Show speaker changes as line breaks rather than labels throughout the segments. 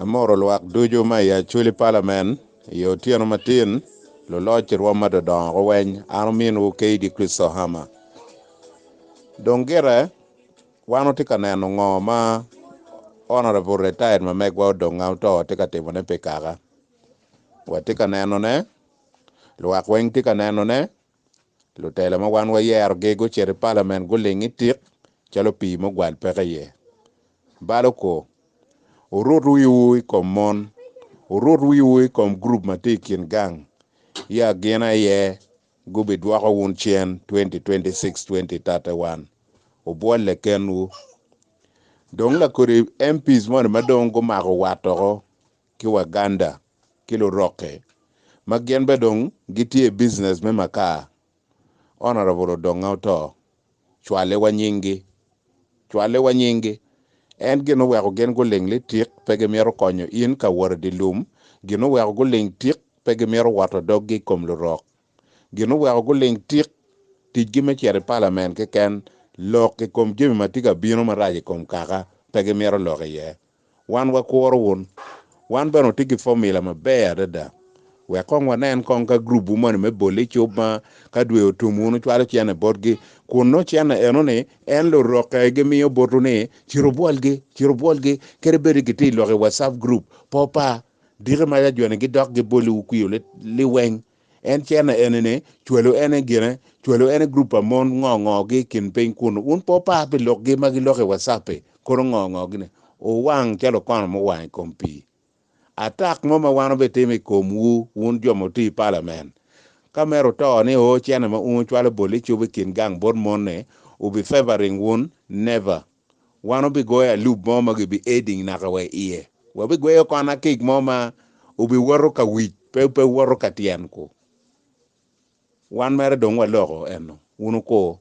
Amoro lwak ducu ma i Acholi Palamen i otyeno matin, luloc i rwom ma dodongo guweny, an ominwu Keydi Christohama. Dong gire, wan watye ka neno ngo ma Honorable Retired Mamegwa Odong Ngauto tye ka timone pi kaka. Watye ka nenone, lwak weng tye ka nenone, Lutela ma wan wayerogi gucito i palament guling i tik calo pii ma ogwal peke iye. Balo kor, Wurut wiwu i kom mon, wurut wiwu i kom gurup ma tye i kin gang. I agina aye gubidwoko wun cen 2026-2031. Wubwolle kenwu. Dong lakodi MPs moni ma dong gumako wat oko ki Waganda ki Lurokke ma gin bene dong gitye i business me makar, Honourable Odonga oto, cwaliwa nyinggi, cwaliwa nyinggi, en gin oweko gin guling ni tik pe gimito konyo in ka wot idye lum, gin oweko guling tik pe gimito woto doggi ikom Lurok, gin oweko guling tik ticgi me cito i Parliament keken, lok ikom jami matye ka bino marac ikom Kaka pe gimito lok iye. Wan wakuro wun. Wan bene watye ki fomula maber adada. Wek kong wanen kong ka gurupwu moni me bolle icup ma ka dwe otum wun wucwalo cene botgi, kun nongo cene eno-ni en lurokke gimiyo botwu ni cit wubwolgi, cit wubwolgi, kadi bed ni gitye i lok i WhatsApp group, pe opa. Diki ma yajoni gidok giboliwu kwio liweng. En cene eni ni, cwelu en aye gine, cwelu en aye group pa mon ngo ngo gi ikin piny kunu, wun pe wupar pi lok gi ma giloko i WhatsApp i, kono ngo ngo gi ni, wuwang calo okono muwang i kom pii. Attack mo ma wan wubitimo i kom wu, wun jo ma wuti i parliament, ka mere wuto ni oo cene ma un wucwalo bol icubo ikin gang bot mon ni, wubi favoring wun, never. Wan obigoyo alub mo ma gibi eding naka wa iye. Wabigweyo kon akik mo ma obiwoto ka wic, pe, pe woto ka tyen ku. Wan mere dong waloko eno. Wun wuku.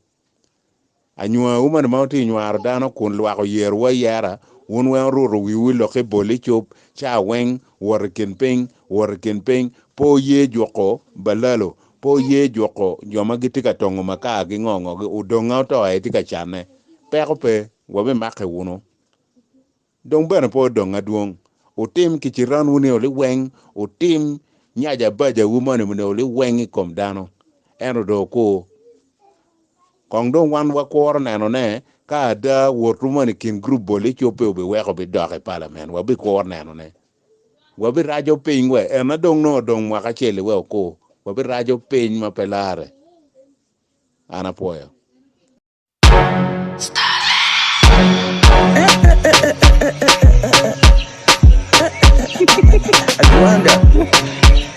Anywa umani ma wutye nywaro dano kun lwako yero wa yera, wun weng wuruto wiwu i lok i bol i cup, ca weng, wot i kin piny, wot i kin piny, po ye juko balalo, Pe wuye juko jo ma gitye ka tongo makar ki ngongogi, odonga oto aye tye ka canne. Peko pe, wabimake wunu. Dong bene pe odong adwong. Wutim kiciranwu nio liweng, wutim nyaca abacawu moni nio liweng i kom dano, ento dong wukur. Kong dong wan wakuro neno ne ka ada wotwu moni i kin gurup bol ecobbe, wubiweko bidok i palament, wabikuro nenone. Wabiraco piny wa en na dong nongo odong mwaka acel-li wek okur. Wabiraco piny ma pe larre. An apwoyo.